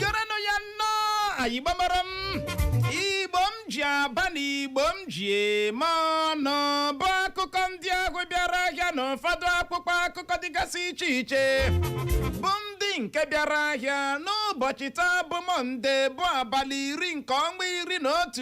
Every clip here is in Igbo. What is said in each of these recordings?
gerenụ ya nnọọ ndị igbo mụrụ m igbo m ji aba na igbo m ji eme ọnụ bụ akụkọ ndị ahụ bịara ahịa na ụfọdụ akwụkwọ akụkọ dịgasị iche iche bụ ndị nke bịara ahịa n'ụbọchị taa bụ mọnde bụ abalị iri nke ọnwa iri na otu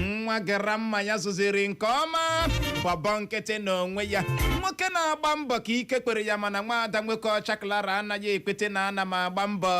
nwa grandma ya zụziri nke ọma bọbọ nkịtị n'onwe ya nwoke na-agba mbọ ka ike kwere ya mana nwaada nwoke ọcha klara anaghị ekwete na ana m agba mbọ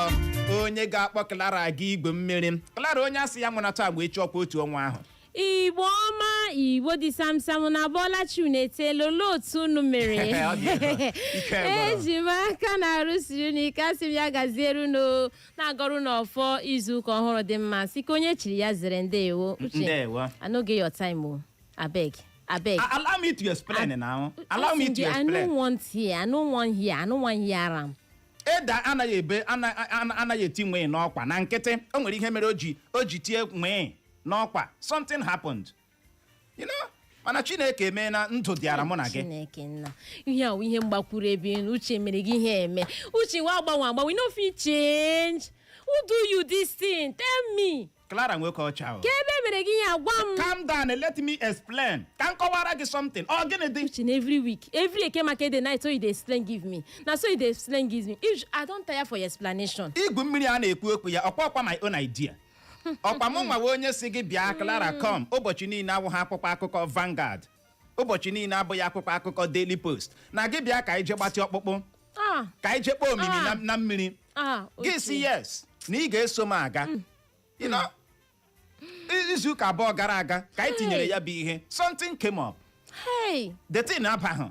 onye ga-akpọ klara aga igwu mmiri klara onye asị ya nwụnata agba echi ọkwa otu ọnwa ahụ igbo ọma igbo dị samsam unu abọla chi unu eteela olee otu unu mere Ọ dị ebe a. Ike gwụrụ. eji m aka na arụ siri unu ike asị m ya gaziere unu na-agọrọ unu ọfọ izu ụka ọhụrụ dị mma sị ka onye chiri ya zere ndewo uche Ndewo. I no get your time o abeg abeg A- Allow me to explain now. Allow me Listen, to dear, I no explain. want here I no wan hear I no wan hear am Eda anaghị ebe ana- ana- anaghị eti nwee n'ọkwa na nkịtị o nwere ihe mere o ji o ji tie nwee n'ọkwa something happened You know, mana chineke mee na ndụ dịara mụ na gị chineke nna ihe awụ ihe mgbakwuru ebe elu uche mere gị ihe eme uche wa agbanwe agbanwe you no fit change who do you this thing tell me clara nwoke ọcha o ka ebe mere gị ihe agwa m calm down and let me explain ka m kọwara gị something ọ gịnị dị uche na every week every eke market day na so you dey explain give me na so you dey explain give me i don tire for your explanation igwu mmiri a na-ekwu okwu ya ọkwa ọkwa my own idea ọkwa mụ nwa wụ onye sị gị bịa Clara come ụbọchị niile awụghị akwụkwọ akụkọ Vanguard ụbọchị niile abụghị akwụkwọ akụkọ Daily Post na gị bịa ka anyị je gbatị ọkpụkpụ Ah, ka anyị je kpọọ omimi na- na mmiri ah, gị Uche. sị yes na ị ga-eso m aga You know, i- izu ụka abụọ gara aga ka anyị tinyere ya bụ ihe something came up Hey, the thing abahụ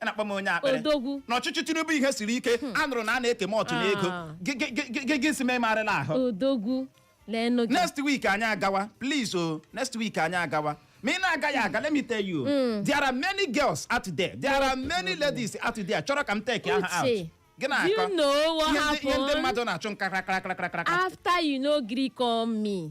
a na-akpọ m onye akpịrị odogwu n'ọchịchị tinubu ihe siri ike a nụrụ na a na-eke m ọtụ n'ego Ah. Gị- gị- gị- gị- gị- gị sị m ị marala ahụ odogwu leenụ gị next week anyị agawa please o next week anyị agawa ma ị na-agaghị aga let me tell you there are many girls out there there are many ladies out there chọrọ ka m take ha out Uche, gị do you na-akọ know what ihe ndị- ihe ndị happened mmadụ na-achụ nka krakrakrakrakra after you no gree call me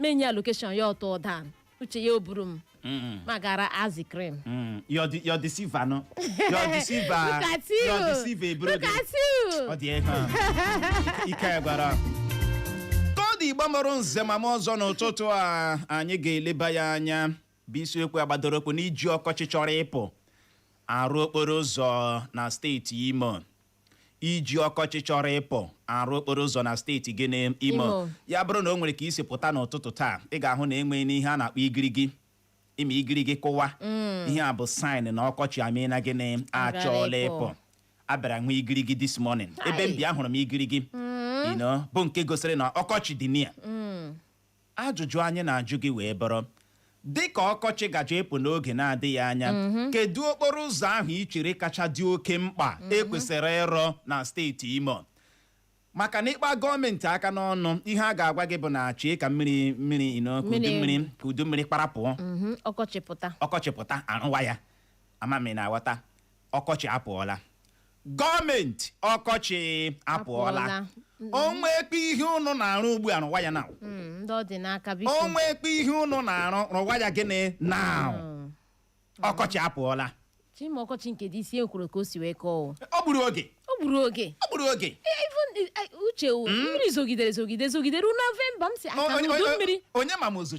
menye location ya ọ tuo down uche ya o buru m Mm, ma gara ice cream mm. Your de- your deceiver no your deceiver Look at you. your deceiver eburu Look gị. at you. oh dear. ike gwụrụ ka ọ dị igbo mụrụ nze ma mụọ ọzọ n'ụtụtụ a anyị ga-eleba ya anya bụ isiokwu a gbadoro ụkwụ n'iji ọkọchị chọrọ ịpụ arụ okporo ụzọ na steeti imo iji ọkọchị chọrọ ịpụ arụ okporo ụzọ na steeti gịnị Imo Imo. ya bụrụ na o nwere ka i si pụta n'ụtụtụ taa ị ga-ahụ na enweghị n'ihe a na-akpọ igirigi ị ma igirigi kụwa ihe a bụ sign na ọkọchị emena gịnị achọọla ịpụ. ịpụ a bịara nwee igirigi this morning ebe m Hai. bi ahụrụ m igirigi you know, bụ nke gosiri na ọkọchị dị near Ajụjụ anyị na-ajụ gị wee bụrụ, Dị ka ọkọchị gaje ịpụ n'oge na-adịghị anya, kedu okporo ụzọ ahụ i chere kacha dị oke mkpa e kwesịrị ịrụ na steeti Imo? maka na ị kpaa gọọmenti aka n'ọnụ ihe a ga-agwa gị bụ na chee ka mmiri mmiri you know ka udu Mmiri- mmiri ka udu mmiri kparapụọ Mhm, ọkọchị pụta ọkọchị pụta a rụwa ya ama m ị na-aghọta ọkọchị apụọla gọọmenti ọkọchị apụọla Apụọla. o nwekpe ihe ụnụ na-arụ ugbu a rụwa ya na Mm, ndị ọ dị n'aka biko o nwekpe ihe ụnụ na-arụ rụwa ya gịnị na Mm. ọkọchị apụọla chima ọkọchị nke this year kwuru ka o si wee kọọ o. o gburu oge o gburu oge o gburu oge Eh, even, eh, eh, uche o, mmiri zogidere zogide zogide ruo November m si aka O- onye- udu onye- mmiri onye ma ma ozu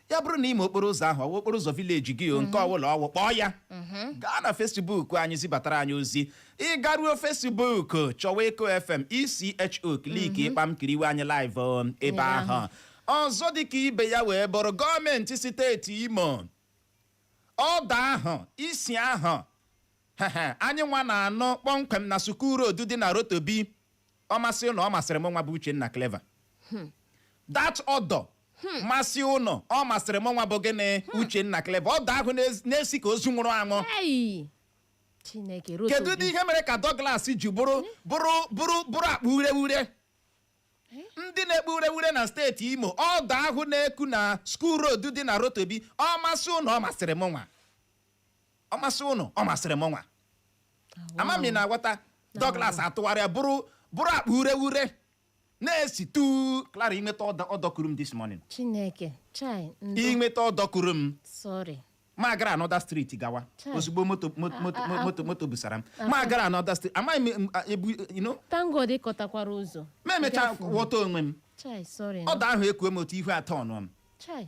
ya bụrụ na ị ma okporo ụzọ ahụ ọ wụ okporo ụzọ village gị o nke ọ wụla ọ wụ kpọọ ya gaa na Facebook anyị zibatara anyị ozi ị garuo Facebook chọwa Echo FM echo click kpam kiriwe anyị live o, ebe ahụ ọzọ dịka ibe ya wee bụrụ gọọmenti steeti Imo odour ahụ isi ahụ hehe, anyị nwa na-anụ kpọmkwem na School Road dị na Rotobi ọ masị ụnụ ọ masịrị mụ nwa bụ Uchenna Clever hmm. that odour hmm. masị ụnụ ọ masịrị mụ nwa bụ gịnị hmm. Uchenna Clever odour ahụ na-esi ka ozu nwụrụ anwụ kedu dị ihe mere ka Douglas ji bụrụ bụrụ akpa urewure ndị na-ekpo urewure na steeti Imo odour ahụ na-eku na School Road dị na Rotobi ọ masị ụnụ ọ masịrị mụ nwa ọ masị ụnụ ọ masịrị mụ nwa ama m ị na-aghọta Douglas atụgharịa bụrụ bụrụ akpa urewure na-esi tu Clara i nweta odour odour kuru m this morning chineke chai ndụ i nweta odour kuru m sorry m agara another street gawa Chai. ozugbo moto moto moto a- a- moto moto busara m m agara another street amaghị m m- a- ebu you know thank God ị kọtakwara ụzọ m emechaa Gafuo. ghọta onwe m chai sorry odour ahụ ekuo m otu ihu atọ ọnụ m chai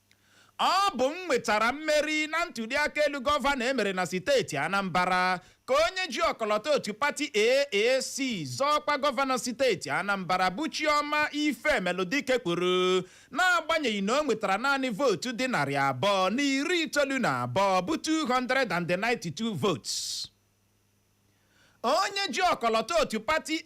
Ọ bụ m nwetara mmeri na ntuliaka elu gọvanọ e mere na siteti Anambara, ka onye ji ọkọlọtọ otu pati AAC zọọ ọkwa gọvanọ siteti Anambara bụ Chioma Ifemelụdike kwuru n'agbanyeghị na o nwetara naanị vootu dị narị abụọ na iri itoolu na abụọ bụ 292 votes. Onye ji ọkọlọtọ otu pati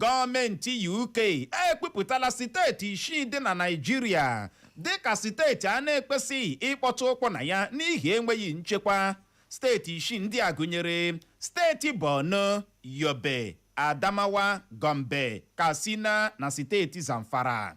Gọọmenti UK ekwupụtala siteeti isii dị na Naịjirịa dịka siteeti a na-ekwesịghị ịkpọtụ ụkwụ na ya n'ihi enweghị nchekwa. Steeti isii ndị a gụnyere steeti Borno, Yobe, Adamawa, Gombe, Katsina na steeti Zamfara.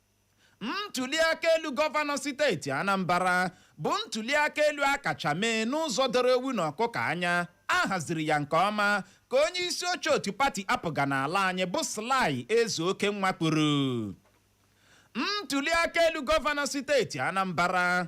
ntuliaka elu gọvanọ steeti Anambra bụ ntuliaka elu a kacha mee n'ụzọ doro ewu na ọkụkọ anya a haziri ya nke ọma ka onye isi oche otu pati APGA n'ala anyị bụ Sly Ezeokenwa kwuru ntuliaka elu gọvanọ steeti Anambra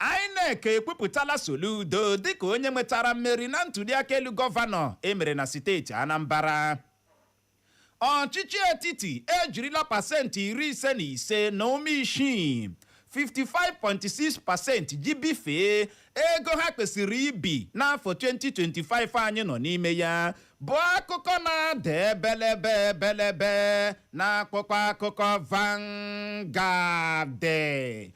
INEC ekwupụtala Soludo dịka onye nwetara mmeri na ntuliaka elu gọvanọ e mere na siteeti Anambra. Ọchịchị etiti ejirila pasenti iri ise na ise na ụma isii 55.6 pasenti ji bifee ego ha kwesịrị ibi n'afọ 2025 anyị nọ n'ime ya bụ akụkọ na-ada ebelebe ebelebe n'akwụkwọ akụkọ Vanguard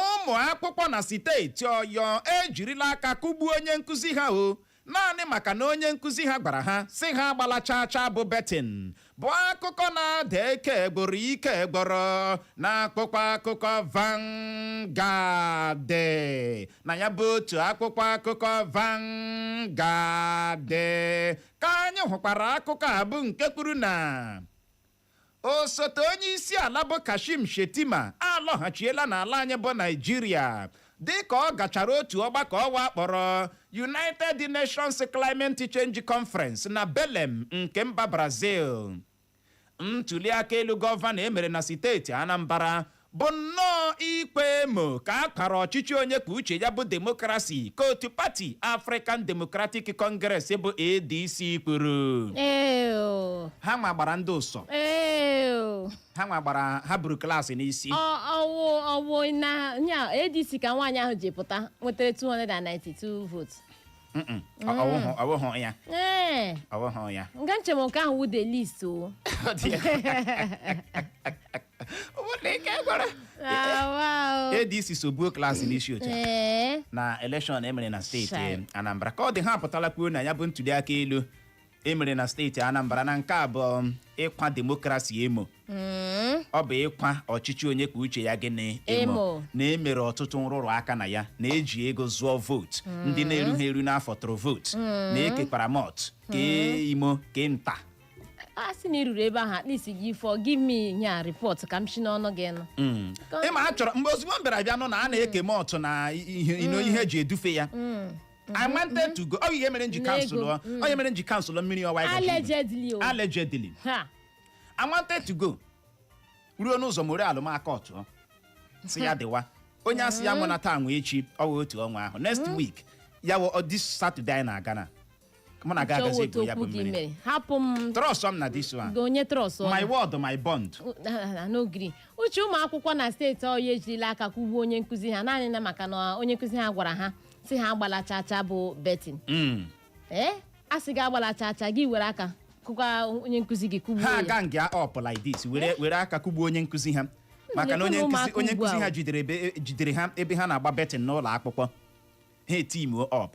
ụmụ akwụkwọ na siteeti Oyo ejirila aka kụgbuo onye nkụzi ha o naanị maka na onye nkụzi ha gwara ha sị ha agbala chaa chaa bụ betting bụ akụkọ na-ada ike gboro ike gboro n'akwụkwọ akụkọ Vanguard na ya bụ otu akwụkwọ akụkọ Vanguard ka anyị hụkwara akụkọ a bụ nke kwuru na osote onye isi ala bụ Kashim Shettima alọghachiela n'ala anyị bụ Naịjirịa dịka ọ gachara otu ọgbakọ ụwa a kpọrọ United Nations Climate Change Conference na Belem nke mba Brazil ntuliaka elu gọvanọ e mere na steeti Anambra bụ nnọọ ịkwa emo ka a kwara ọchịchị onye kwuo uche ya bụ demokrasi ka otu pati African Democratic Congress bụ ADC kwuru Ew. ha nwa gbara ndị ụsọ Ew. ha nwa gbara ha buru klaasị n'isi Ọ- ọ wụ ọ wụ na nya ADC ka nwaanyị ahụ ji pụta nwetara 292 votes. Mm-mm. Ọ- ọ wụhụ ọ wụhụ ya Ee, ọ wụhụ ya nga nche m nke ahụ wụ the least o. Ọ dị ya. ADC so buo klaasị n'isi oche ee na elekshọn e mere na steeti Chai. Anambra ka ọ dị ha apụtala kwuo na ya bụ ntuli aka elu e mere na steeti Anambra na nke a bụ um, ịkwa demokrasi emo Mm. ọ bụ ịkwa ọchịchị onye kwuo uche ya gịnị Emo. na e mere ọtụtụ nrụrụ aka na ya na e ji ego zụọ vootu ndị na-erughị eru n'afọ tụrụ vootu na e kekwara mọt kee imo kee nta a sị na ị ruru ebe ahụ at least gị for give me ihe a report ka m si n'ọnụ gị nụ Mm. Ka- ịma a chọrọ mgbe ozugbo m bịara bịa nụ na a na-eke m ọtụ na ihe you know, ihe eji edufe ya I wanted to go ọ ihe mere m ji N'ego. cancel ọ ọ ihe mere m ji cancel mmiri ọwa ịgọchi ndụ. allegedly o allegedly ha I wanted to go ruo n'ụzọ m were alụmaka ọtụọ si ya dịwa onye asị ya nwụna taa nwe echi ọ wee otu ọnwa ahụ next week ya wụ ọ this Saturday anyị na-aga na mụ na gị Chọwa agazi otu igwu ya bụ okwu gị mmiri mere hapụ m trust m na this one gị onye trust my word my bond n'ogiri uche ụmụ akwụkwọ na steeti ọyọ ejirila aka kụgbuo onye nkụzi ha naanị na maka na onye nkụzi ha gwara ha sị ha agbala chaa chaa bụ betting Mm. ee a sị gị agbala chaa chaa gị were aka kụkwa onye nkụzi gị kụgbuo ha ya a gang up like this were were aka kụgbuo onye nkụzi ha maka na onye na-ekwe na nkụzi ụmụaka onye ugbu nkụzi a ha o. jidere ebe- jidere ha ebe ha na-agba betting n'ụlọ akwụkwọ ha etimuo up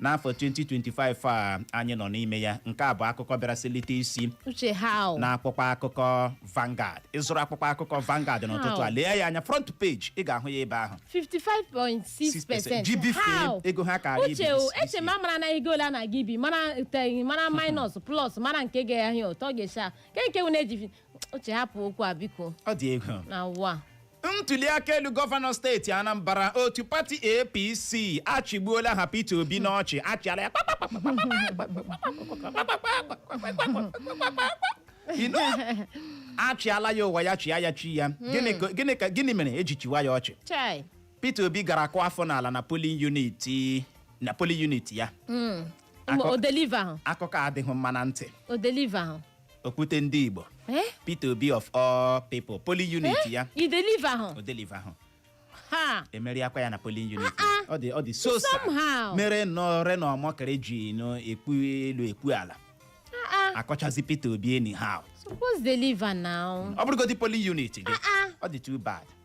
n'afọ 2025 a anyị nọ n'ime ya nke a bụ akụkọ bịara selite isi uche how n'akwụkwọ akụkọ Vanguard ị zụrụ akwụkwọ akụkọ Vanguard n'ụtụtụ a How? lee ya anya front page ị ga-ahụ ya ebe ahụ 55.6 percent ji bifee how ego ha karịa uche o ibi eche m a mara na ego ole a na-aga ibi mara iteghị mara minus plus mara nke ga-ahịa ụtọ ga-echa ke nke wụ na-eji uche hapụ okwu a biko ọ dị egwu na ụwa a. ntuli aka elu gọvanọ steeti anambra otu pati apc achịgbuola ha peter obi n'ọchị achịala ya You know, achịala ya ụwa ya chịa ya chi ya Gịnị ka- gịnị ka- gịnị mere eji chịwa ya ọchị chai peter obi gara kụọ afọ n'ala na polling unit na polling unit ya Akọ- o deliverhụ akụkọ adịghị mma na ntị o deliverhụ okwute ndị igbo Eh? peter obi of all people polling unit Eh? ya O deliverhụ. o deliverhụ Ha. e meriakwa ya na polling unit Ah, ọ dị ọ dị so sad. Somehow. mere ndị Reno Omokri ji na-ekwu elu ekwu ala Ah, ah. akọchazi peter obi anyhow Suppose deliver now. ọ bụrụgodị polling unit gị Ah, ah. ọ dị too bad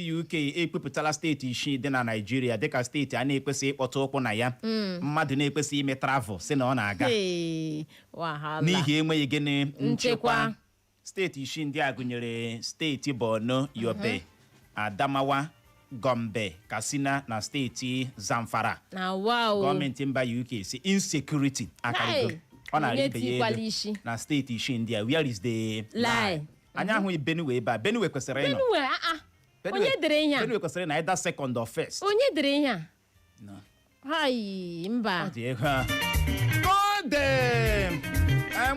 ndị UK ekwupụtala steeti isii dị na Naịjirịa dịka steeti a na-ekwesịghị ịkpọta ụkwụ na ya mmadụ na-ekwesịghị ime travel sị na ọ na-aga Hey, wahala. n'ihi enweghị gịnị Nchekwa. nchekwa steeti isii ndị a gụnyere steeti Borno Yobe Adamawa Gombe Katsina na steeti Zamfara na wa o gọọmenti mba UK sị insecurity akarịgo Hai, ọ na-arị onye ibe ya tikwala elu isi. na steeti isii ndị a where is the lie anyị ahụghị benue ebe a benue kwesịrị ịnọ benue a a Benue- onye dere ihe a benue kwesịrị na either second or first onye dere ihe a No. hai mba ọ dị egwu a goddamn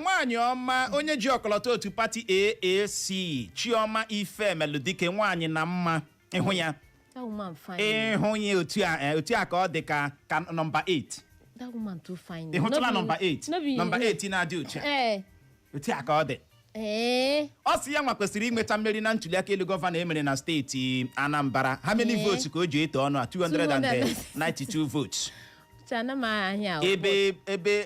nwaanyị ọma onye ji ọkọlọtọ otu pati aac chioma ifemeludike nwaanyị na mma ịhụ ya That woman fine. ịhụ ya otu a eh, otu a ka ọ dị ka ka nọmba 8 That woman too fine. ị hụtụla No be- nọmba 8 no be- nọmba 8 na-adị otu a Eh. otu a ka ọ dị Eh. ọ sị ya nwa kwesịrị inweta mmeri na ntuliaka elu gọvanọ e mere na steeti anambra how many Ee. votes ka o ji eto ọnụ a 292 votes Uche ana m ahịa ahụ. ebe ebe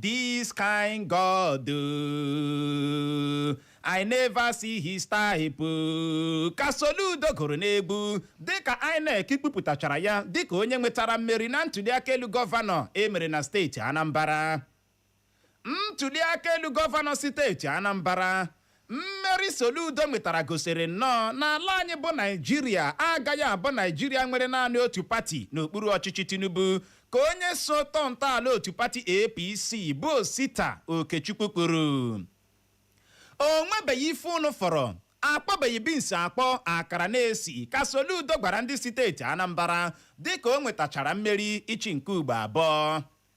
This kind God, oh, I never see his type. oh. Ka Soludo gụrụ n'egwu dịka INEC kwupụtachara ya dịka onye nwetara mmeri na ntuliaka elu gọvanọ emere na steeti Anambra. Ntuliaka elu gọvanọ steeti Anambra Mmeri Soludo nwetara gosiri nnọọ na ala anyị bụ Naijiria agaghị abụ Naijiria nwere naanị otu pati n'okpuru ọchịchị Tinubu ka onye so tọọ ntọala otu pati APC bụ Osita Okechukwu kwuru. O nwebeghị ife unu fụrụ akwọbeghị binsi akwọ akara na-esi ka Soludo gwara ndị steeti Anambra dịka o nwetachara mmeri ịchị nke ugbo abụọ.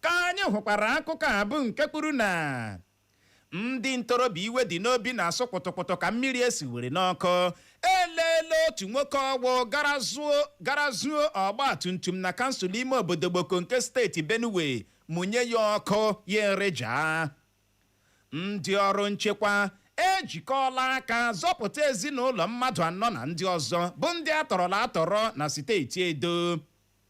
ka anyị hụkwara akụkọ a bụ nke kwuru na ndị ntorobịa iwe dị n'obi na-asụ kpụtụkpụtụ ka mmiri e siwere n'ọkụ eleela otu nwoke ọgwụ gara zuo ọgba tum tum na kansụl ime obodo gboko nke steeti benue mụnye ya ọkụ ya ereja ndị ọrụ nchekwa ejikọọla aka zọpụta ezinụlọ mmadụ anọ na ndị ọzọ bụ ndị atọrọla atọrọ na steeti edo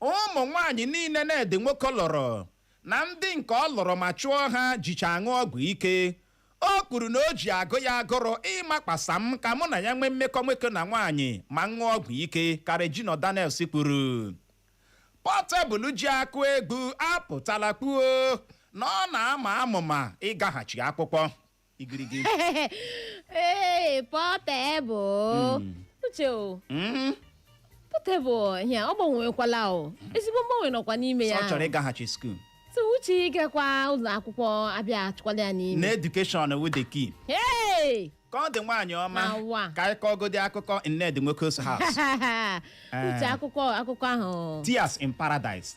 ụmụ nwaanyị niile Ned Nwoko lụrụ na ndị nke ọ lụrụ ma chụọ ha jicha aṅụ ọgwụ ike o kwuru na o ji agụ ya agụrụ ịmakwasa m ka mụ na ya nwee mmekọ nwoke na nwaanyị ma ṅụọ ọgwụ ike ka Regina Daniels kwuru Portable ji akụ egwu apụtala kwuo na ọ na-ama amụma ịgaghachi akwụkwọ igirigi ee pọtebụl Mm. uche o Mm, pọtebụl ya ọ gbanwekwala o ezigbo mgbanwe nọkwa n'ime sọ ya ọ chọrọ ịgaghachi skuul so uche ịgakwa ụlọ akwụkwọ abịa achụkwala ya na n'ime education wu the key Hey! ka ọ dị nwaanyị ọma Awa. ka anyị kọgodi akụkọ Ned Nwoko's house uche akụkọ akụkọ ahụ tears in paradise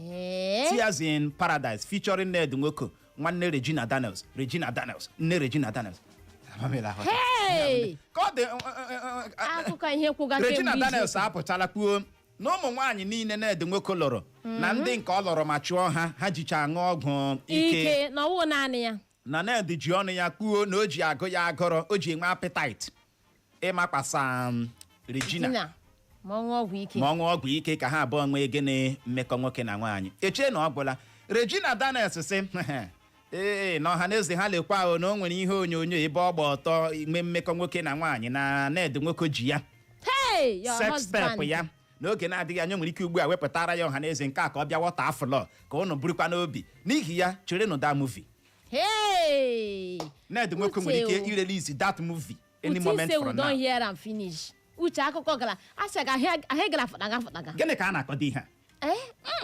Ee, Tears in Paradise featuring Ned Nwoko nwanne Regina Daniels Regina Daniels nne Regina Daniels Amamila Hotel. Hey! ka ọ dị uh, uh, uh, akụkọ ihe kwụga Regina kemgbe izu Daniels ụka. apụtala kwuo na ụmụ nwaanyị niile Ned Nwoko lụrụ na ndị nke ọ lụrụ ma chụọ ha ha jicha aṅụ ọgwụ ike ike na ọ wụ naanị ya na Ned ji ọnụ ya kwuo na o ji agụ ya agụrụ o ji enwe appetite ịmakwasa um, Regina Dina, ma ọ ṅụọ ọgwụ ike ka ha abụọ nwee gịnị mmekọ nwoke na nwaanyị echee na ọ gwụla Regina Daniels sị ee na ọha na eze ha lekwa ahụ na o nwere ihe onyonyo ebe ọ gba ọtọ enwe mmekọ nwoke na nwaanyị na Ned Nwoko ji ya hey your sex tape husband ya n'oge na-adịghị anya nwere ike ugbu a wepụtara ya ọha na eze nke a ka ọ bịa wọta afụlọ ka ụnụ burukwa n'obi n'ihi ya cherenụ that movie Hey! Ned Nwoko nwere ike Uche o. irelease that movie any Uche moment say we from don now hear am finish. Uche akụkọ gara asị ga ahịa gara fụtaga fụtaga. gịnị ka a na-akọdo ihe a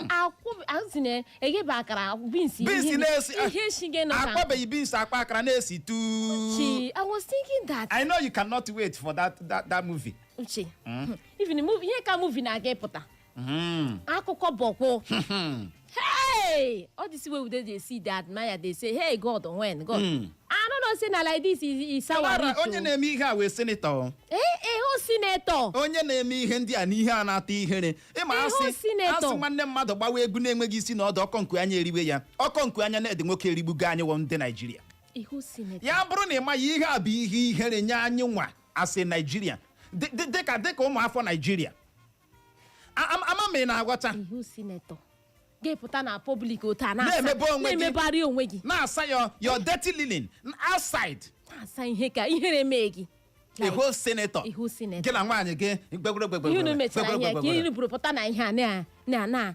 Akwụ asị na eghebe akara beans beans na-esi ihe shige nọ ka akwọbeghị beans akpa akara na-esi tuu chi. I was thinking that. I know you cannot wait for that that, that movie. uche even movie ihe ka movie na-aga ịpụta Mm. akụkọ boku Hmm. hey all this wey we dey dey see dey admire dey say hey god when god Mm. i no know say na like this is is our Clara, rich onye o na-eme ihe a wụ senator eh eh o senator onye na-eme ihe ndị a na ihe a na-ata ihere ị ma a whole senator. A sị nwanne mmadụ gbawa egwu na-enweghị isi na ọdụ ọkọ nku anya eriwe ya ọkọ nku anya Ned Nwoko erigbugo anyị wụ ndị Naijiria a whole senator ya bụrụ na ị maghị ihe a bụ ihe ihere nye anyị nwa as a Nigerian dị- dị- dịka dịka ụmụafọ Naijiria A- am- ama m ị na-aghọta a whole senator ga-epụta na public otu a na-asa- Na-emebe onwe gị. na-emebegharị onwe gị na-asa your your dirty linen outside na-asa ihe ka ihere mee gị a Like, whole senator a whole senator gị na nwaanyị gị gbegwere ihe unu mechara ihe ka ihe buru pụta na ihe a na- na na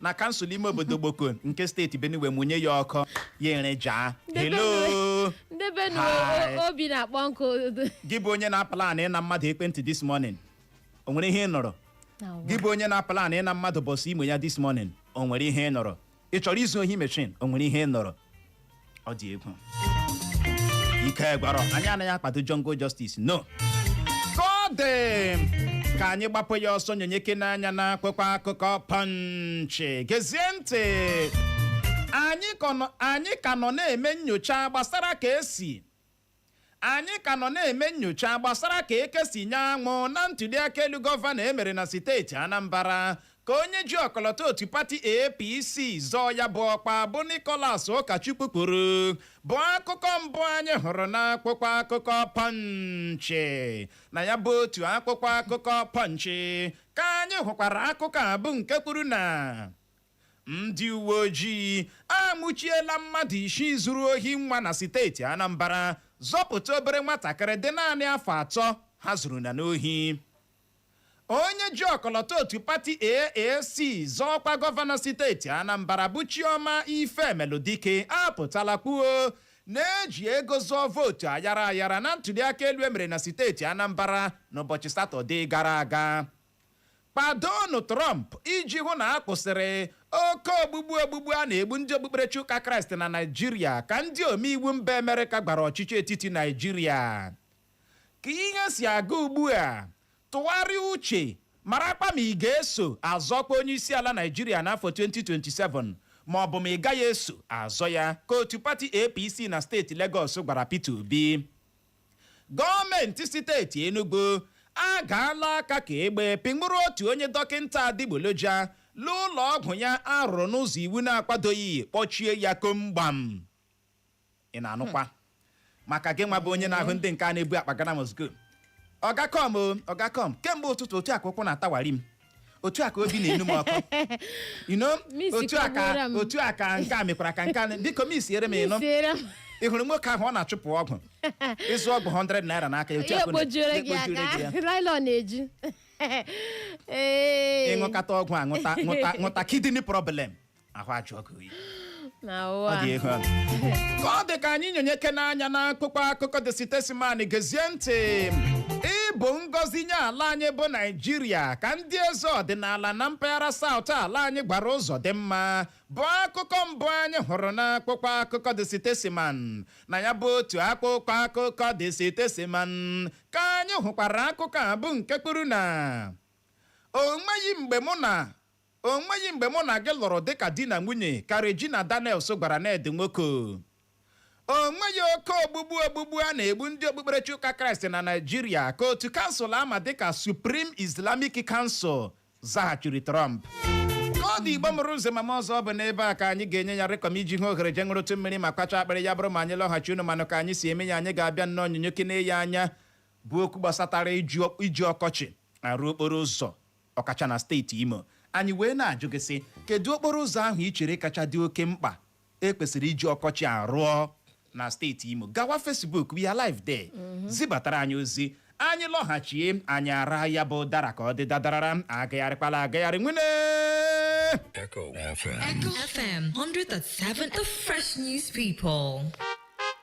na kansụl ime obodo Gboko nke steeti Benue mụnye ya ọkụ ya ere jaa hello ndị Benue o- obi na-akpọ nkụ gị bụ onye na-aplan ịna mmadụ ekwentị this morning o nwere ihe ị nụrụ gị bụ onye na-aplan ịna mmadụ Bus Imo ya this morning o nwere ihe ị nụrụ ị chọrọ izu ohi machine o nwere ihe ị nụrụ ọ dị egwu ike gwụrụ anyị anaghị akwado jungle justice no ka ọ dị ka anyị gbapụ ya ọsọ nyonyekene anya n'akwụkwọ akụkọ Punch gezie ntị anyị ka nọ- anyị ka nọ na-eme nyocha gbasara ka esi Anyị ka nọ na-eme nnyocha gbasara ka eke si nyaa anwụ na ntuliaka elu gọvanọ e mere na steeti Anambra, ka onye ji ọkọlọtọ otu pati APC zọọ ya bụ ọkwa bụ Nicholas Ụkachukwu kwuru, bụ akụkọ mbụ anyị hụrụ n'akwụkwọ akụkọ Punch. Na ya bụ otu akwụkwọ akụkọ Punch ka anyị hụkwara akụkọ a bụ nke kwuru na Ndị uweojii anwụchiela mmadụ isii zuru ohi nwa na siteeti Anambra zọpụta obere nwatakịrị dị naanị afọ atọ ha zuru na n'ohi. Onye ji ọkọlọtọ otu pati AAC zọọ ọkwa gọvanọ siteeti Anambra bụ Chioma Ifemeludike apụtala kwuo na e ji ego zụọ vootu ayara ayara na ntuliaka elu e mere na siteeti Anambra n'ụbọchị Satọde gara aga. kwadoonụ Trump iji hụ na a kwụsịrị oke ogbugbu ogbugbu a na-egbu ndị okpukperechi ụka Kraịst na Naịjirịa ka ndị omeiwu mba Amerịka gwara ọchịchị etiti Naịjirịa ka ihe si aga ugbu a tụgharịa uche marakwa ma ị ga-eso azọkwa onye isi ala Naịjirịa n'afọ 2027 ma ọ bụ ma ị gaghị eso azọ ya ka otu pati APC na steeti Legọs gwara Peter Obi Gọọmenti steeti Enugu agaala aka ka egbe pịnwụrụ otu onye dọkịnta adịgboloja n'ụlọ ọgwụ ya a rụrụ n'ụzọ iwu na-akwadoghị kpọchie ya komgbam ị na-anụkwa maka gị nwa bụ onye na-ahụ ndị nke a na-ebu akpa Ghana must go ọga come o ọga come kemgbe ụtụtụ otu a ka ụkwụ na-atawari m otu a ka obi na-enwu m ọkụ you know Miss otu a ka kọgbuola m. otu a ka nke a mekwara ka nke a na- biko mixiere m ị nụ Isiere m. ị hụrụ nwoke ahụ ọ na-achụpụ ọgwụ ị zụọ ọgwụ 100 naira n'aka ya otu Ihe a ka ọ na- ekpojuere gị ekpojuere gị ya. akpa nylon na-eju Ee. ị ṅụkata ọgwụ a ṅụta ṅụta ṅụta kidney problem ahụ ajụọ gị oyi na ọ ụwa dị ihu ọnụ. ka ọ dị ka anyị nyonyekene anya n'akwụkwọ akụkọ The Statesman gezie ntị ị bụ ngọzi nye ala anyị bụ Naịjirịa ka ndị eze ọdịnala na mpaghara South ala anyị gwara Uzodimma bụ akụkọ mbụ anyị hụrụ n'akwụkwọ akụkọ The Statesman na ya bụ otu akwụkwọ akụkọ The Statesman ka anyị hụkwara akụkọ a bụ nke kwuru na o nweghị mgbe mụ na O nweghị mgbe mụ na gị lụrụ dịka di na nwunye, ka Regina Daniels gwara Ned Nwoko. O nweghị oke ogbugbu ogbugbu a na-egbu ndị okpukperechi ụka Kraịst na Naịjirịa, ka otu kansụl a ma dịka Supreme Islamic Council zaghachiri Trump. Ka ọ dị Igbo mụrụ nze ma mụọ ọzọ ọ bụ n'ebe a ka anyị ga-enye ya rịkọm iji hụ ohere je ṅụrụtụ mmiri ma kwacha akpịrị ya bụrụ ma anyị lọghachi unu manụ ka anyị si eme ya anyị ga-abịa nnọọ nyonyekene ya anya bụ okwu gbasatara iji ọkọchị arụ okporo ụzọ ọkacha na steeti Imo. Anyị wee na-ajụ gị sị, kedụ okporo ụzọ ahụ i chere kacha dị oke mkpa e kwesịrị iji ọkọchị a rụọ na steeti Imo? Gawa Facebook, we are live there. Zibatara anyị ozi. Anyị lọghachie, anyị ara ya bụ ụdara ka ọ dị dadarara, agagharịkwala agagharị nwanne. Echo FM. Echo FM 100.7, the fresh news people.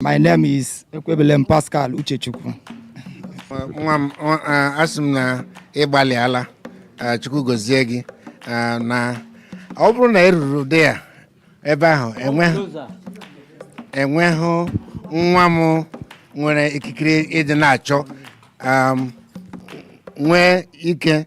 My name is Ekwebelem Pascal Uchechukwu. nwa m ọ- a- asị m na ị gbalịala a, chukwu gozie gị a, na ọ bụrụ na ị ruru dị ya ebe ahụ enweghị enweghị nwa m nwere ikikere ịdị na-achọ um, nwee ike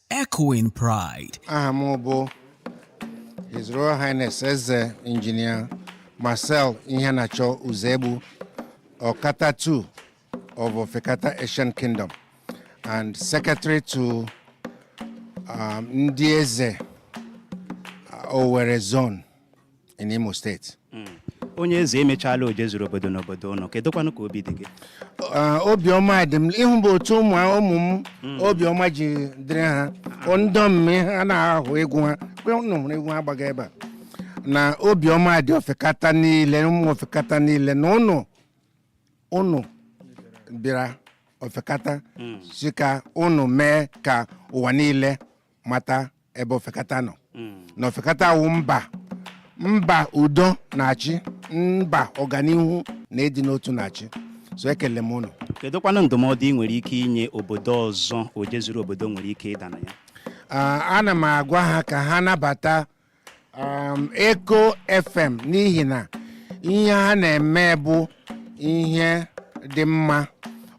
Echoing Pride. aha m bụ His Royal Highness Eze Engineer Marcel Iheanacho Uzegbu Okata II of Ofekata Ancient Kingdom and Secretary to um, Ndị Eze uh, Owerri Zone in Imo State. Hmm. onye eze emechala oje zuru obodo n'obodo ụnụ kedụkwanụ ka obi dị gị ah, obiọma dị m ịhụ bụ otu ụmụ ụmụ m hmm. obiọma ji dịrị ha ndọm ha na-ahụ egwu ha ụnụ hụrụ egwu ha gbaga ebe a na obiọma dị ofekata niile ụmụ ofekata niile na ụnụ ụnụ bịara ofekata hmm. si ka ụnụ mee ka ụwa niile mata ebe ofekata nọ na ofekata wụ mba mba udo na-achị mba ọganihu na ịdị n'otu na-achị so ekele m unu kedụkwanụ ndụmọdụ ị nwere ike inye obodo ọzọ oje zuru obodo nwere ike ịda na ya Ah, ana m agwa ha ka ha nabata um, Echo FM n'ihi na ihe ha na-eme bụ ihe dị mma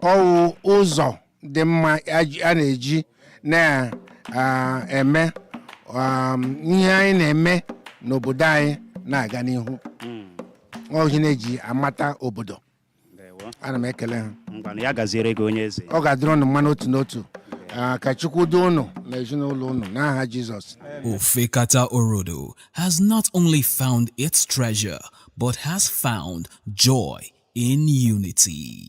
ọwụ ụzọ dị mma a ji- a na-eji na-eme um, ihe anyị na-eme n'obodo anyị na-aga n'ihu ọwụ ihe a na-eji amata obodo ana m ekele ha ngwanụ ya gaziere gị onye eze ọ ga-adịrị ụnụ mma n'otu n'otu Ah, ka chukwu duo ụnụ na ezinụlọ ụnụ n'aha jizọs Ofekata Orodo has not only found its treasure, but has found joy in unity.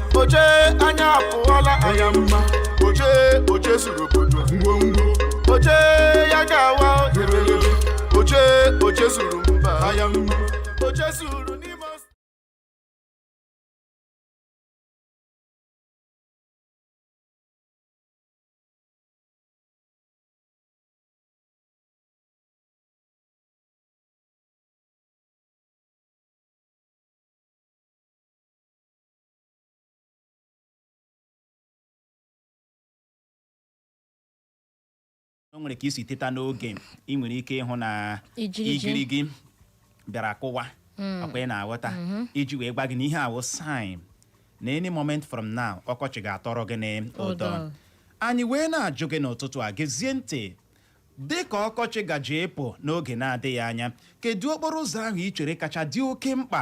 oje anya apụọla anya mma oje oje zuru obodo ngwongwo oje ya ga-awa ebelebe oje oje zuru mba anya mma oje zuru o nwere ka i si teta n'oge ị nwere ike ịhụ na igirigi bịara kụwa akwa ị na-aghọta iji wee gwa gị na ihe a wụ sign na any moment from now ọkọchị ga-atọrọ gị n'ụdọ. anyị wee na-ajụ gị n'ụtụtụ a gezie ntị dị ka ọkọchị gaje ịpụ n'oge na-adịghị anya kedu okporo ụzọ ahụ ị chere kacha dị oke mkpa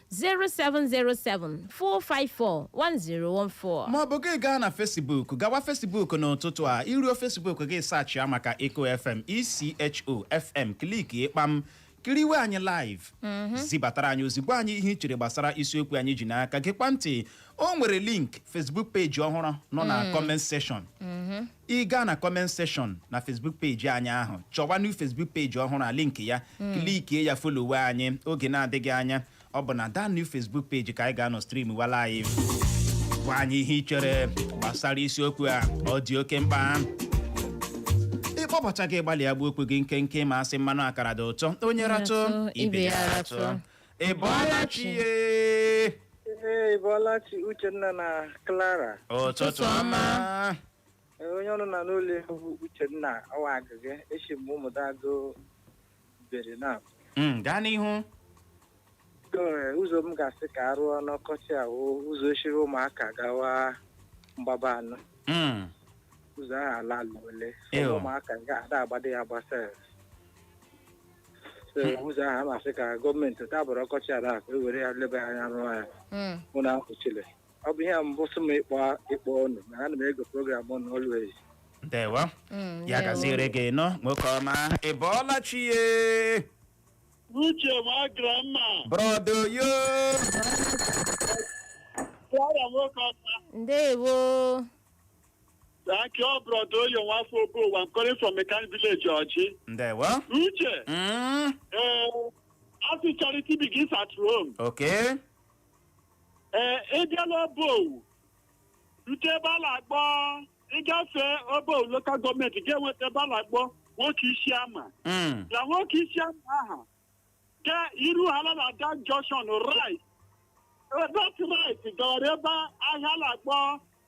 07074541014. maọbụ gị gaa na fesibuk gawa fesibuk n'ụtụtụ a i ruo fesibuk gị sachia maka eko fm echo fm klikie kpam kiriwe anyị live zibatara anyị ozi gwa anyị ihe i chere gbasara isiokwu anyị ji n'aka gekwa ntị o nwere link facebook peji ọhụrụ nọ na comment section ị gaa na comment section na facebook peji anyị ahụ chọwa new facebook peji ọhụrụ a link ya klikie ya folowe anyị oge na-adịghị anya ọ bụ na that new facebook peji ka anyị ga-anọ stream wa live gwa anyị ihe ị chere gbasara isiokwu a ọ dị oke mkpa ị kpọbata gị gbalịa gbuo okwu gị nkenke ma a sị mmanụ akara dị ụtọ onye ratụ ibe ya ratụ ị bọọla chi ee Ee, ị bọọla chi Uchenna na Clara. ụtụtụ ọma Ee, Onye ọnụ na-anụ olu ya wụ Uchenna ọwa agịga eshi m Ụmụdagụ Mbieri na Mm, gaa n'ihu Ee, ụzọ m ga-asị ka a rụọ n'ọkọchị a wụ ụzọ e shiri Ụmụaka gawa Mgbabanọ Mm, ụzọ ahụ ala ala ole Ew. ụmụaka ga-ada agbado ya gbasa so ụzọ ahụ a na-asị ka gọọmenti tabụrụ ọkọchị a na-akụ ewere ya leba ya anya rụọ ya Mm. mụ na ahụchile ọ bụ ihe a mbụ sị m ịkpọ ịkpọ ọnụ na ana m ege program ọnụ always ndewo Mm, ya ndewo. gaziere gị nnọọ nwoke ọma ị bọọla chi ye Uche ma grandma. brọda Oyo Yara nwoke ọma. ndewo Thank you brọda Oyo nwa afọ Obowu I'm calling from mechanic village Ọjị. ndewo Uche, Mm, ee, a sị charity begins at home. okay Ee, ị bịala Obowu, rute ebe a na-akpọ ị gafe Obowu lokal gọọmenti ga-enweta ebe a na-akpọ nwoke isi ama. Mm, na nwoke isi ama aha ga iru ala na that junction right that right gawara ebe ahị a na-akpọ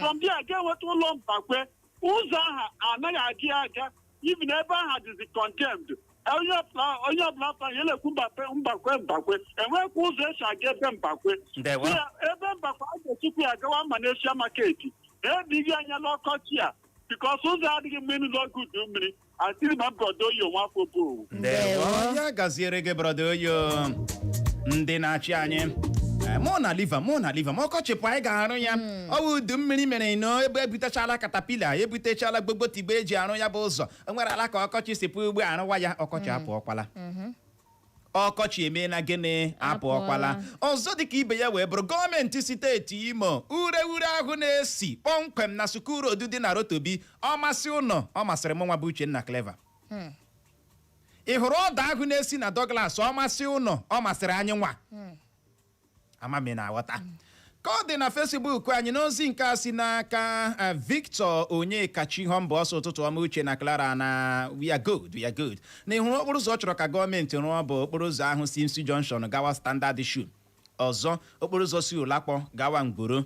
from there ga-enweta ụlọ mbakwe ụzọ aha anaghị adị aga even ebe aha dịzi condemned onye ọbụla onye ọbụla pụtara ya na-ekwu mbakwe mbakwe mbakwe enwekwa ụzọ esi aga ebe mbakwe ndewo Ya, ebe mbakwe a ga-esikwu ya gawa malaysia maketi ebighị anya n'ọkọchị a bikọs ụzọ adịghị mma ịnụ n'oge udu mmiri I still remain brọda oyo nwafọ Obowu. ndewo ya gaziere gị brọda oyo ndị na-achị anyị Eh, una leave am una leave am ọkọchị pụ anyị ga-arụ ya ọ bụ udu mmiri mere na ebe ebutechala katapila ebutechala gbogbotigbo eji arụ ya bụ ụzọ o nwere ala ka ọkọchị si pụ ugbu a rụwa ya ọkọchị apụọkwala ọkọchị emeela gịnị apụọkwala Apụọla. ọzọ dịka ibe ya wee bụrụ gọọmenti steeti imo ure ure ahụ na-esi kpọmkwem na sukuu road dị na rotobi ọ masị ụnụ ọ masịrị mụnwa bụ uchenna clever ị hụrụ ọda ahụ na-esi na douglas ọ masị ụnụ ọ masịrị anyịnwa ama m ị na-aghọta ka ọ dị na fesibuk anyị n'ozi nke a si n'aka eh, victor onyekachi họmba ọ sị ụtụtụ ọma uche na clara na we are good we are good na ị hụrụ okporo ụzọ ọ chọrọ ka gọọmenti rụọ bụ okporo ụzọ ahụ si imsu junction gawa standard shoe ọzọ okporo ụzọ si ụlakwọ gawa nguru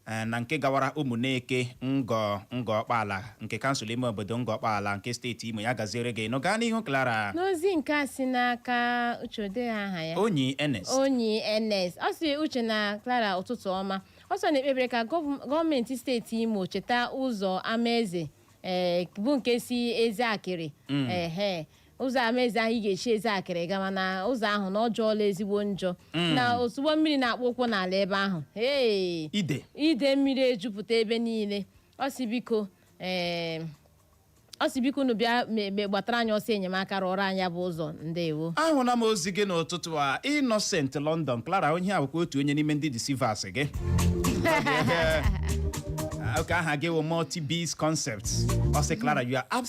Eh, na nke gawara ụmụneke ngọ ngọ ọkpaala nke kansụl ime obodo ngọ ọkpaala nke steeti imo ya gaziere gị nụ gaa n'ihu clara n'ozi nke a si n'aka uche o dee aha ya onyi ernest onyi ns ọ sị uche na clara ụtụtụ ọma ọ sị ọ na-ekpebere ka gọv- gọọmenti steeti imo cheta ụzọ amaeze ee, bụ nke si ezeakịrị ehe ụzọ amaeze ahụ ị ga-esi ezeakịrị gama na ụzọ ahụ na ọ jọọla ezigbo njọ na ozugbo mmiri na-akpọ ụkwụ n'ala ebe ahụ ee ide ide mmiri ejupụta ebe niile ọ sị biko ee ọ sị biko unu bịa me- me- gbatara anyị ọsọ enyemaka rụọrọ anyị ya bụ ụzọ ndewo ahụla m ozi gị n'ụtụtụ a innocent london clara onye a bụkwa otu onye n'ime ndị deceivers gị okay aha gị wụ multi biz concepts ọ sị clara you are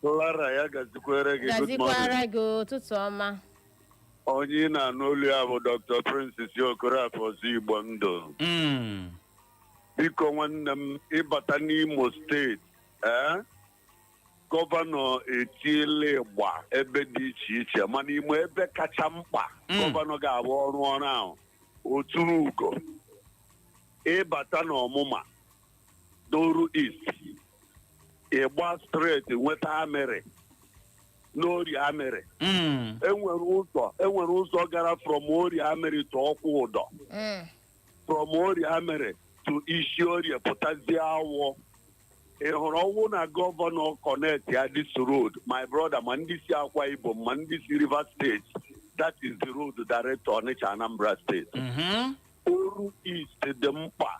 Clara ya gazikwere gị good morning. gazikwara gị ụtụtụ ọma Onye ị na-anụ olu ya bụ Dr. Francis Okorafor ọzọ Igbo ndụ. Mm. Biko nwanne m ị bata n'Imo steeti ee gọvanọ etiela ịgba ebe dị iche iche mana ị ma ebe kacha mkpa Mm. gọvanọ ga-abụ ọ rụọ ọrụ ahụ o turu ugo ị bata n'ọmụma n'oru east ị gbaa straight nweta amịrị n'orie amịrị Mm. e nwere ụzọ e nwere ụzọ gara from orie amịrị to ọkwụdọ Mm. from orie amịrị to isi orie pụtazie awọ ị hụrụ ọ wụ na gọvanọ connect ya this road my brother ma ndị si akwa ibom ma ndị si rivers steeti that is the road direct to ọnịcha anambra steeti Mhm. oru east dị mkpa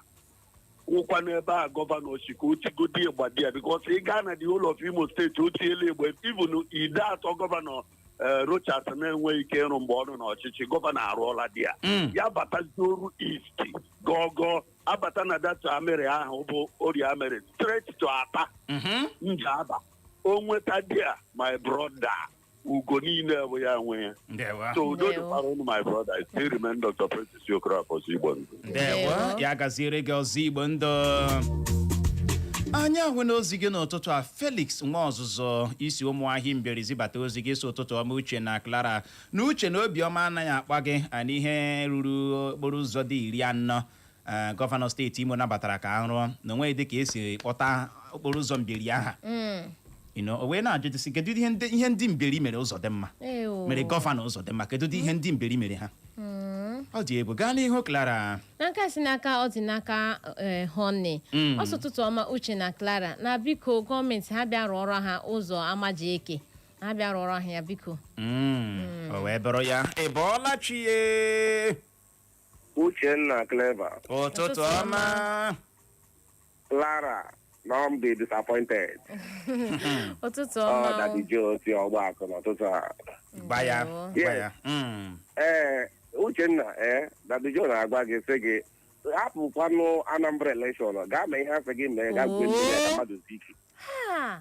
wụkwa n'ebe a gọvanọ sị ka o tigodi ịgba there because ị gaa na the whole of imo steeti o tiela ịgba even ideatọ gọvanọ eh, rochas na-enweghị ike ịrụ mgbe ọ nọ n'ọchịchị gọvanọ arụọla there Mm. ya batazie oru east gọgọ abata na that amịrị ahụ bụ orie amịrị straight to atta Mhm. njaba o nweta there my brother ugo niile bụ ya nwe ya ndewo so udo Ndewo. dịkwara unu my brother I still remain Dr. Francis Okorafor Igbo ndụ ndewo Ndewo. ya gaziere gị ọzọ igbo ndụ anyị ahụna ozi gị n'ụtụtụ a felix nwaọzụzụ i si ụmụahịị mbieri zibata ozi gị sị ụtụtụ ọma uche na clara na uche na obiọma anaghị akpa gị a n'ihe ruru okporo ụzọ dị iri anọ Ee, gọvanọ steeti Imo nabatara ka a rụọ na o nweghị dịka e si kpọta okporo ụzọ Mbieri aha You know, o wee na-ajụ ajụjụ sị kedu ihe ndị ihe ndị Mbieri mere Uzodimma Ee, o. mere gọvanọ Uzodimma kedu ụdị ihe ndị Mbieri mere ha ọ dị egwu gaa n'ihu Clara na nke a si n'aka Ọdịnaka eh, Honey Mm. ọ sị ụtụtụ ọma Uche na Clara na biko gọọmenti ha bịa rụọrọ ha ụzọ Amajieke ha bịa rụọrọ ha ya biko Mm, o wee bụrụ ya ị bọọla chi ye Uchenna Clever, ụtụtụ ọma Clara, na ọ dị disappointed. ụtụtụ Ọ ọma dadi Jo si Ọgbakụ n'ụtụtụ a. gba ya Ndewo. gba ya Mm. Ee, Uchenna, ee, dadi Jo na-agwa gị sị gị hapụkwanụ Anambra election gaa mee ihe a sị gị mee gaa gwe ndị ka mmadụ ziki. Ha!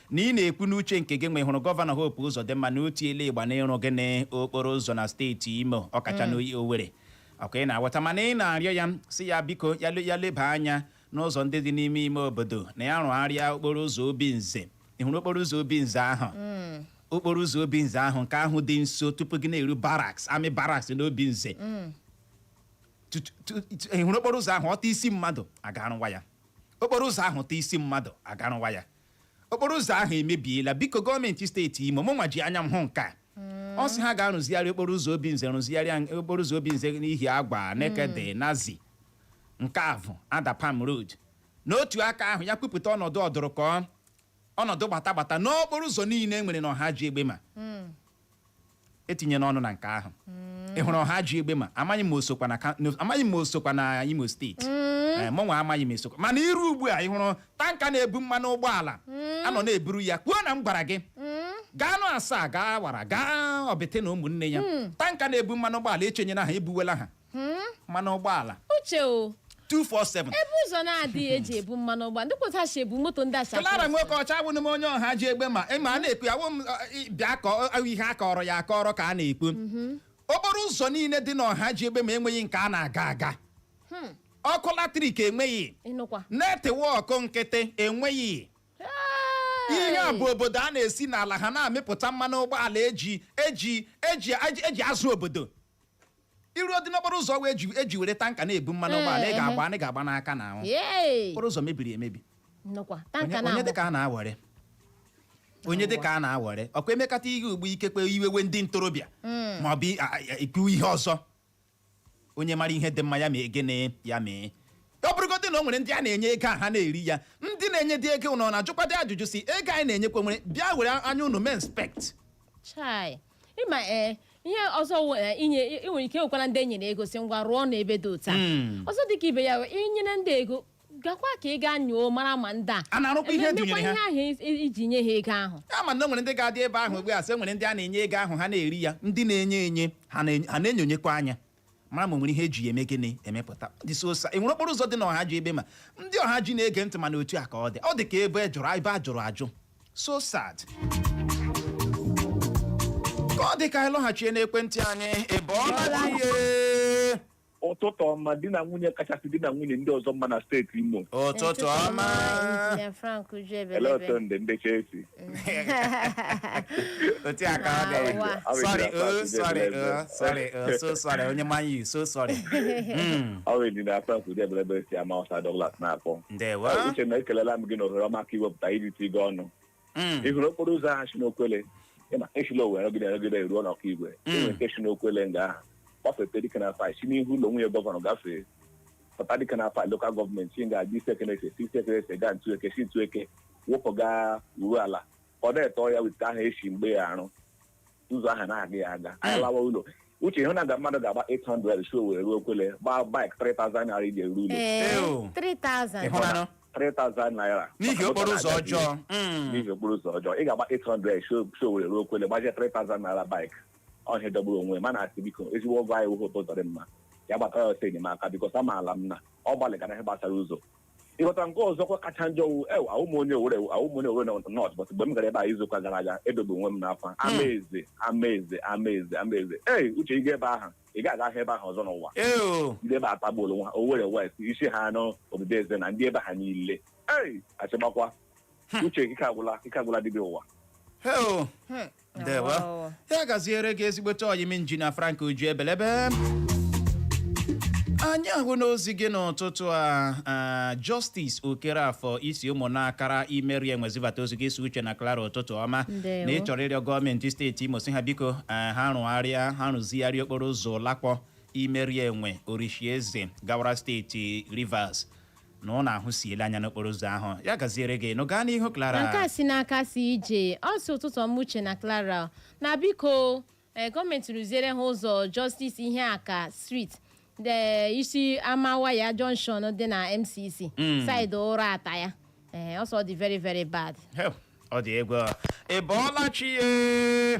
na ị na-ekwu n'uche nke gịnwa ị hụrụ gọvanọ Hope Uzodimma na o tiela igba n'ịrụ gịnị okporo ụzọ na steeti Imo ọkacha mm. n'oyi Owerri ọkwa ị na-aghọta mana ị na-arịọ ya sị ya biko ya leba anya n'ụzọ ndị dị n'ime ime obodo na ya rụgharịa okporo ụzọ Obinze ị hụrụ okporo ụzọ Obinze ahụ mm. okporo ụzọ Obinze ahụ nke ahụ dị nso tupu gị na-eru barracks army barracks n'Obinze mm. ị hụrụ okporo ụzọ ahụ ọ taa isi mmadụ a ga-arụwa ya okporo ụzọ ahụ taa isi mmadụ a ga-arụwa ya okporo ụzọ ahụ emebiela biko gọọmenti steeti Imo mụnwa ji anya m hụ nke a ọ sị ha gaa rụzigharịa okporo ụzọ Obinze rụzigharịa okporo ụzọ Obinze n'Ihiagwa Nekede Naze nke Avu Adapalm road n'otu aka ahụ ya kwupụta ọnọdụ ọdụrụkọ ọnọdụ gbata gbata n'okporo ụzọ niile e nwere na Ohaji Egbema etinye n'ọnụ na nke ahụ mm. ị hụrụ Ohaji Egbema amaghị m o sokwa na amaghị m o sokwa na Imo steeti mm. eh, mụnwa amaghị m o sokwa mana i ru ugbu a ị hụrụ tanka na-ebu mmanụ ụgbọala mm. a nọ na-eburu ya kwuo na m gwara gị gaanụ Asaa gaa Awara gaa Obiti na ụmụnne ya tanka na-ebu mmanụ ụgbọala echenyela ha ebuwela ha mmanụ ụgbọala Uche o 247 ebe ụzọ na-adịghị eji ebu mmanụ ụgbọala ndị kwụta si ebu moto ndị acha Clara nwoke ọcha abụghị m onye Ohaji Egbema ịma a na-ekwu awụ m ọ, ị- bịa ka ọ- ọ ihe a kọrọ ya akọrọ ka a na-ekwu okporo ụzọ niile dị n'Ohaji Egbema enweghị nke a na-aga aga ọkụ latrik enweghị ịnụkwa netwọk nkịtị enweghị ihe a bụ obodo a na-esi n'ala ha na-amịpụta mmanụ ụgbọala eji eji eji eji- eji azụ obodo i ruodị n'okporo ụzọ wee ji eji were tanka na-ebu mmanụ Ee, ụgbọala ị ehe. ga-agba anyị ga-agba n'aka na ahụ Yay! okporo ụzọ mebiri emebi Nnukwu, onye tanka onye na-amụ. dịka a na-awere onye dịka a na-awere ọkwa emekata ihe ugbu ikekwe iwewe ndị ntorobịa ma ọ bụ i- a- a- ikwu ihe ọzọ onye mara ihe dị mma ya mee gịnị ya mee ọ bụrụgodị na o nwere ndị a na-enye ego a ha na-eri ya ndị na-enyedị ego unu na-ajụkwadị ajụjụ sị ego anyị na-enyekwanụ were bịa were anya unu mee inspect Chai. ịma ee ihe ọzọ wụ, eh, inye i nwere ike nwekwara ndị enyere ego sị ngwa rụọ na ebe dị otu a Mm. ọzọ dịka ibe ya wụ, inyere ndị ego gakwa ka ị gaa nyoo mara ma ndị a A na-arụkwa ihe ememekwa edunyere ha. ihe ahụ i- i- iji nye ha ego ahụ ama na o nwere ndị ga-adị ebe ahụ ugbu a sị e nwere ndị a na-enye ego ahụ ha na-eri ya ndị na-enye enye ha na- ha na-enyonyekwa anya mara ma o nwere ihe eji ya eme gịnị emepụta ọ dị so sad enwere okporo ụzọ dị na Ọhaji Egbema ndị Ọhaji na-ege ntị mana otu a ka ọ dị ọ dị ka ebe jụrụ ebe a jụrụ ajụ so sad ka ọ dị ka anyị lọghachie n'ekwentị anyị ebe ọ ihe ụtụtụ ọma di na nwunye kachasị di na nwunye ndị ọzọ mma na steeti imo ụtụtụ ọma Injinia Frank Uju Ebelebe. elee otu ndị ndị chelsea otu a ka ọ dị Awa. sorry oh sorry oh sorry oh so sorry onye Man U so sorry Mm, ọ wụ Injinia Frank Uju Ebelebe si Ama Awụsa Douglas na-akpọ ndewo uche na ekelela m gị na ohere ọma ka iwepụta irite gị ọnụ Mm, ị hụrụ okporo ụzọ ahụ si n'okwele ịma esila Owere rụgide rụgide ruo n'Okigwe Mm. enwere nke si n'okwele nga ahụ gbafete Dikenafai si n'ihu ụlọ nwunye gọvanọ gafee pụta Dikenafai lokal gọọmenti si ga-aga Isiekenesi Isiekenesi gaa Ntueke si Ntueke wụpụ gaa Urualla ka ọ na-etọ ya weta aha esi mgbe ya arụ ụzọ ahụ na-aga ya aga anyị lawa ụlọ uche ịhụ nga mmadụ ga-agba 800 si Owere ruo Okwele gbaa bike 3000 naira iji eru ụlọ ee Ew. 3000 ịhụlanụ 3000 naira n'ihi okporo ụzọ ọjọọ Mm. n'ihi okporo ụzọ ọjọọ ị ga-agba 800 si si Owere ruo Okwele gbazie 3000 naira bike ọ ihe jọgburu onwe ya mana asị m biko ezigbo ọga anyị wụ Hope Ụzọdịmma ya gbatara ya ọsọ enyemaka because amaala m na ọ gbalịgara ihe gbasara ụzọ ịghọta nke ọzọkwa kacha njọ wụ ew awụ m onye Owere awụ m onye Owere North but mgbe m gara ebe a izuụka gara aga edobe onwe m n'akwa amaeze amaeze amaeze amaeze ee uche ị ga ebe ahụ ị ga-agahụ ebe ahụ ọzọ n'ụwa ee o ndị ebe atagbuola onwe ha owere west isi ha anọ Obibiezena ndị ebe ha niile ei achịgbakwa uche ike agwụla ike agwụla dibịa ụwa ee o ndewo Awawo. ya gaziere gị ezigbote ọyị m injinia frank uju ebelebe anyị ahụna ozi gị n'ụtụtụ a a, justice Okereafọ i si Ụmụnakara Imerienwe zibata ozi gị ị sị Uche na Clara ụtụtụ ọma Ndewo. na ị chọrọ ịrịọ gọọmenti steeti imo sị ha biko eh, ha rụgharịa ha rụzigharịa okporo ụzọ Ụlakwọ Imerienwe Orishieze gawara steeti rivers na unu ahụsiela anya n'okporo ụzọ ahụ ya gaziere gị nụ gaa n'ihu Clara nke a si n'aka CJ ọ sị ụtụtụ ọma uche na clara na biko eh, gọọmenti rụziere ha ụzọ justice Iheaka street e si Amawaya junction dị na mcc side Uratta ya Eh, ọ sị ọ dị very very bad Hell, ọ dị egwu ị bọọla chi ye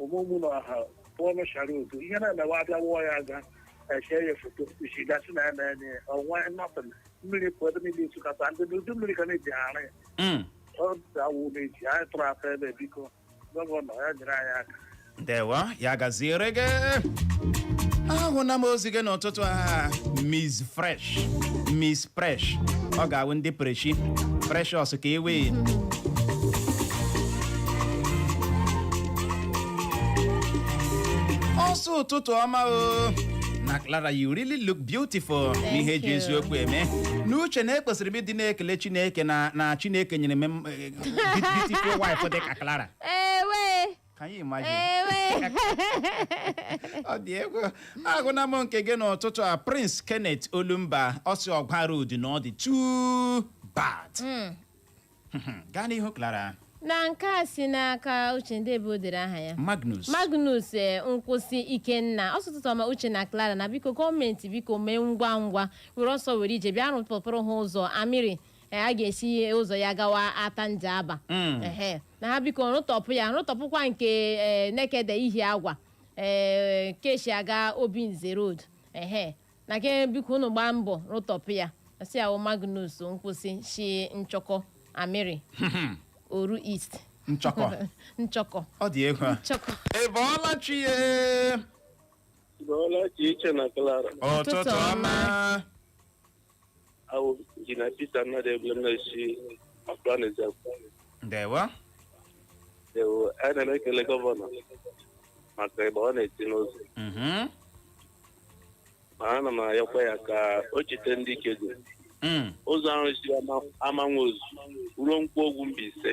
ụmụmụ na ọha pụọ n'ụchara udo ihe na-emewe abịa wụọ ya aga echee ya foto isi gasị na ya na-enye ya ọnwa nọtịn mmiri pụọ ebe niile ịsụkata ndị na udu mmiri ka na-eji arụ ya Mm. ọ dawụ na-eji anyị tụrụ afọ ebe biko gọvanọ ya nyere anyị aka ndewo ya gaziere gị ahụna m ozi gị n'ụtụtụ a miss fresh miss presh ọ ga-awụ ndị preshi precious ka ewe ọ sị ụtụtụ ọma o na Clara you really look beautiful n'ihe eji you. eziokwu eme n'uche na ekwesịrị m ịdị na-ekele Chineke na na Chineke nyere m eh, beautiful wife dị ka Clara ewe Can you imagine? Ewe. ọ dị egwu agụna m nke gị n'ụtụtụ a prince kenneth olumba ọ sị ọgwa road na ọ dị too bad gaa n'ihu clara na nke a si n'aka uche ndị ebe o dere aha ya magnus magnus eh, nkwụsị ikenna ọ sị ụtụtụ ọma uche na clara na biko gọọmenti biko mee ngwa ngwa were ọsọ were ije bịa rụpụrụ ha ụzọ amiri eh, a ga-esi ụzọ ya gawa atta njaba Mm. Ehe. na ha biko rụtọpụ ya rụtọpụkwa nke eh, nekede ihiagwa eh, ke shi aga obinze road ehe na ke biko unu gbaa mbọ rụtọpụ ya sị ya wụ magnus nkwụsị shi nchọkọ amiri oru east nchọkọ nchọkọ ọ dị egwu a. nchọkọ ị bọọla chi ye Bọọla chi uche na Clara. ụtụtụ ọma Awụ Injinia Peter Nnadị Egbulem na-esi Akwa Nizam. ndewo Ndewo, anyị na na-ekele gọvanọ maka ịgba ọ na-eti n'ụzọ. Mhm. Ma ana m ayọkwa ya ka o chete ndị Ikeduru. Mm. Ụzọ ahụ si ama- amanwozuzu ruo nkwọgwu mbaise.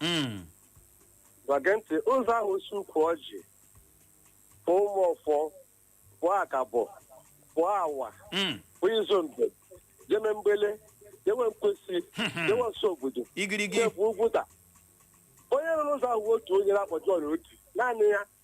Mm. Gbage ntị ụzọ ahụ si ukwu ọjị pụọ ụmụọfọ pụọ akabọ pụọ awa Mm. pụọ izombe jeme mgbele jewe nkwesi jewe ọsụ obodo igirigi jebu ugwuta onye rụrụ ụzọ ahụ otu onye na-akpọ John Oti naanị ya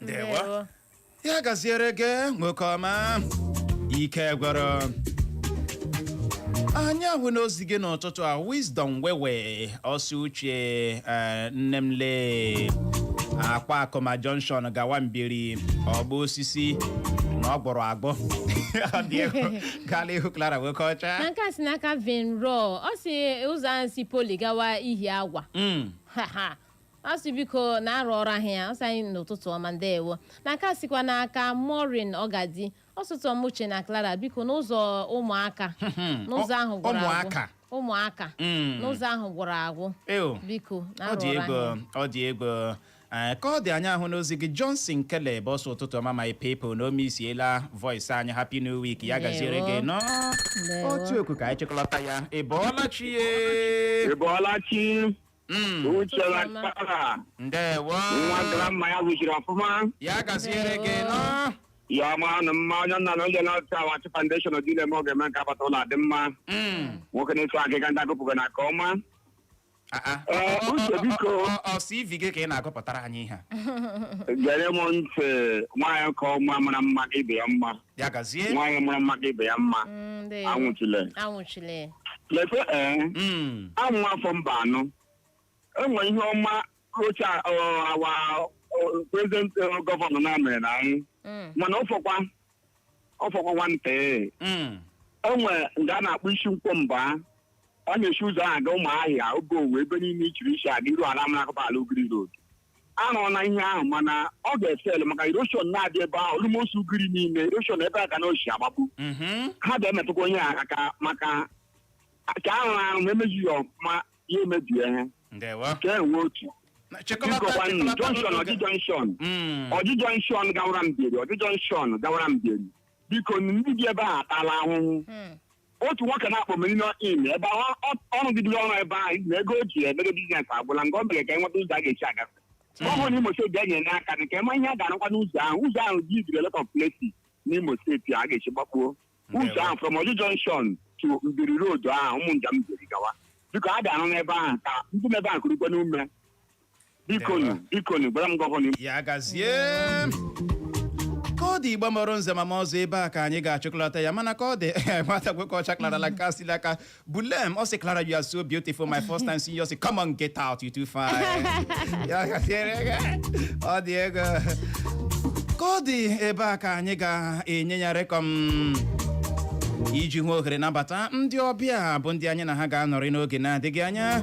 ndewo ya gaziere gị nwoke ọma ike gwụrụ anyị ahụna ozi gị n'ụtụtụ a wisdom wewe ọ sị uche eh, nne m lee akwakụma junction gawa mbieri ọgbọ osisi na ọ gbọrọ agbọ Ọ dị egwu. gaa n'ihu clara nwoke ọcha na nke a si n'aka vin ro ọ sị ụzọ ahụ si poli gawa ihiagwa Mm. Ha, ha. a sị biko na arụ ọrụ ahụ ya ọ sị anyị ụtụtụ ọma ndewo na nke a sikwa n'aka Maureen Ọgadi ọ sị ụtụtụ ọma Uche na Clara biko na ụzọ Ụmụaka n'ụzọ ahụ gwụrụ agwụ ụmụaka. ụmụaka Mm. n'ụzọ ahụ gwụrụ agwụ Ew. biko na ọ arụ dị ọrụ ego ahụ ọ dị ego Ee, ka ọ dị anyị ahụna ozi gị Johnson Caleb ọ sị ụtụtụ ọma my people na ọ missiela voice anyị happy new week ya gaziere gị Ndewo. n'otu okwu ka anyị chịkọlọta ya ị bọọla chi ye Ị bọọla chi Mm, Uche na Ụtụtụ ọma. Clara. ndewo Nwa grandma ya zụziri ọfụma. ya gaziere gị nọ Ya ọma ọnụ mma onye nna na onye na-ọta Awachi Foundation dị na-eme oge eme nke agbata ụlọ adị mma. Mm, Nwoke na-eso agịga ndị agụpụgo na nke ọma. ah, ah. Ee, Ọ- ọ- Uche, ọ- biko. ọ- ọ- ọ CV gị ka ị na-agụpụtara anyị ihe a. Gere m ntị nwaanyị nke ọma mara mma ka ibe ya mma. ya gazie nwaanyị mara mma ka ibe ya mma Mm, ndewo. anwụchile anwụchile lekwe ee Mm, awụ m nwa afọ Mbanọ o nwe ihe ọma rocha our present gọvanọ na-emere anyị Mm, mana ọ fọkwa ọ fọkwa nwantị mm, o nwe nga a na-akpọ isi nkwọ mba a na-esi ụzọ ahụ aga Ụmụahịa Obowo ebe niile i chiri isi aga iru ala mara akụba ala Ugiri road a rụọna ihe ahụ mana ọ ga-efail maka erosion na-adị ebe ahụ almost Ugiri niile erosion ebe a ka na oshi agbagbu Mhm. ha ga-emetụkwanụ ya aka maka ka ahụ ahụ ma emezighị ọfụma ya emebie ha ndewo ka enwe otu Na- chịkọlata bikọkwa nnu chịkọlata junction n'oge. Orji junction Mm. Orji junction gawara Mbieri Orji junction gawara Mbieri biko ndị bi ebe ahụ atala ahụhụ otu nwoke na-akpọ Merino Inn ebe ahụ ọ- ọ- ọ rụgidere ọrụ ebe ahụ na ego o ji emere biznes agwụla nke ọ mere ka e nweta ụzọ a ga-esi agafe gọvanọ Imo steeti bịa nyere aka dị ka ị ma ihe a ga-arụkwa n'ụzọ ahụ ụzọ ahụ ji ibiri lot of places n'Imo steeti a ga-esi gbakpuo ụzọ ahụ from Orji junction to Mbieri road ahụ ụmụ njem Mbieri gawa biko a ga-arụ n'ebe ahụ ka ndị nọ ebe ahụ kurukwanụ ume bikonu bikonu gwara m gọvanọ Imo ya gazie ka ọ dị Igbo mara nze mara ọzọ ebe a ka anyị ga-achịkọlata ya mana ka ọ dị nwata nwoke ọcha Clara nke a si n'aka bulem ọ sị Clara you are so beautiful my first time seeing you ọ sị come on get out you too fine ya gaziere gị. ọ dị ego ka ọ dị ebe a ka anyị ga-enye ya rekọm iji hụ ohere nabata ndị ọbịa bụ ndị anyị na ha ga-anọrị n'oge na-adịghị anya